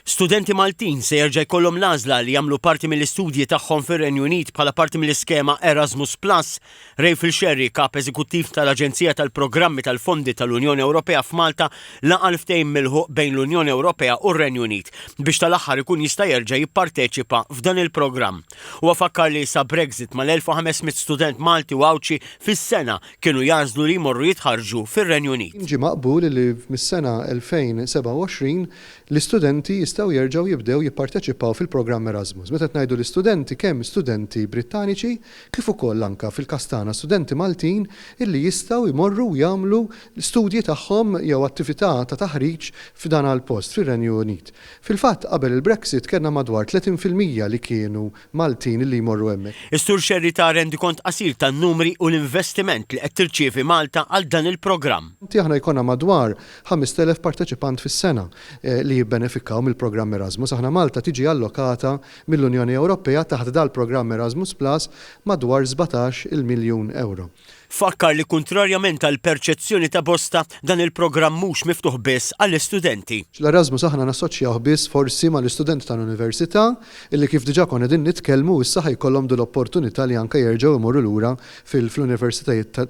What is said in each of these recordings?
Studenti Maltin se jerġa' jkollhom l-għażla li jagħmlu parti mill-istudji tagħhom fir-Renju Unit bħala parti mill-iskema Erasmus Plus. Raphael Scerri, Kap Eżekuttiv tal-Aġenzija tal-Programmi tal-Fondi tal-Unjoni Ewropea f'Malta, laqa' l-ftehim milħuq bejn l-Unjoni Ewropea u r-Renju Unit biex tal-aħħar ikun jista' jerġa' jipparteċipa f'dan il-programm. Huwa fakkar li sa Brexit mal-1,500 student Malti u Għawdxi fis-sena kienu jagħżlu li jmorru jitħarrġu fir-Renju Unit. Ġie maqbul li mis-sena 2027 l-istudenti jistgħu jerġgħu jibdew jipparteċipaw fil-programm Erasmus. Meta qed ngħidu l-istudenti kemm studenti Brittaniċi kif ukoll anke fil-każ tagħna studenti Maltin illi jistgħu jmorru u jagħmlu l-studji tagħhom jew attività ta' taħriġ f'dana l-post, fir-Renju Unit. Fil-fatt qabel il-Brexit kellna madwar 30 fil-mija li kienu Maltin li jmorru hemmhekk. Is-Sur Scerri ta rendikont qasir tan-numri u l-investiment li qed tirċievi Malta għal dan il-programm. Aħna jkollna madwar 5,000 parteċipant fis-sena li jibbenefikaw mill-programm Erasmus. Aħna Malta tiġi allokata mill-Unjoni Ewropea taħt dal-programm Erasmus Plus madwar sbatax il miljun ewro. Fakkar li kuntrarjament għall-perċezzjoni ta' bosta, dan il-programm mhux miftuħ biss għall-istudenti. L-Erasmus aħna nassoċjawh biss forsi mal-istudenti tal-università illi kif diġà konna qegħdin nitkellmu issa ħa jkollhom din l-opportunità li anke jerġgħu jmorru lura fl-universitajiet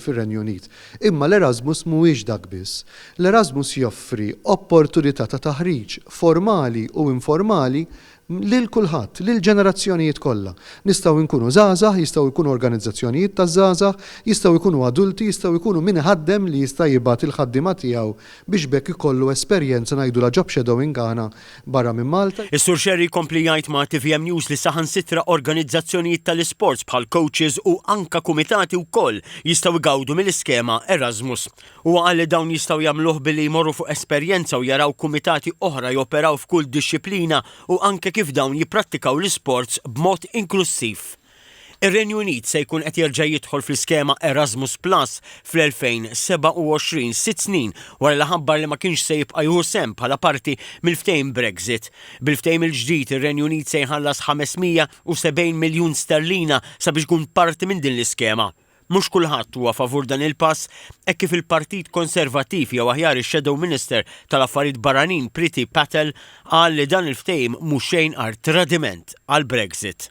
fir-Renju Unit. Imma l-Erasmus mhuwiex dak biss. L-Erasmus joffri opportunità ta' taħriġ formali u informali lil kulħadd, lill-ġenerazzjonijiet kollha. Nistgħu nkunu żgħażagħ, jistgħu jkunu organizzazzjonijiet taż-żgħażagħ, jistgħu jkunu adulti, jistgħu jkunu min iħaddem li jista' jibgħat il-ħaddiema tiegħu biex b'hekk ikollu esperjenza ngħidulha job shadowing aħna barra minn Malta. Is-Sur Xerri jkompli jgħid ma' tvm News li saħansitra organizzazzjonijiet tal-isports bħal coaches u anka kumitati wkoll jistgħu jgawdu mill-iskema Erasmus. Huwa qal li dawn jistgħu jagħmluh billi jmorru fuq esperjenza u jaraw kumitati oħra joperaw f'kull dixxiplina u anke kif dawn jipprattikaw l-isports b'mod inklussiv. Ir-Renju Unit se jkun qed jerġa' jidħol fl-iskema Erasmus Plus fl-2027, sitt snin wara li ħabbar li ma kienx se jibqa' jieħu sehem bħala parti mill-ftehim Brexit. Bil-ftehim il-ġdid, ir-Renju Unit se jħallas 570 miljun sterlina sabiex jkun parti minn din l-iskema. Mhux kulħadd huwa favur dan il-pass hekk kif il-Partit Konservattiv jew aħjar ix-Shadow Minister tal-Affarijiet Barranin Priti Patel qal li dan il-ftehim mhu xejn għar tradiment għall-Brexit.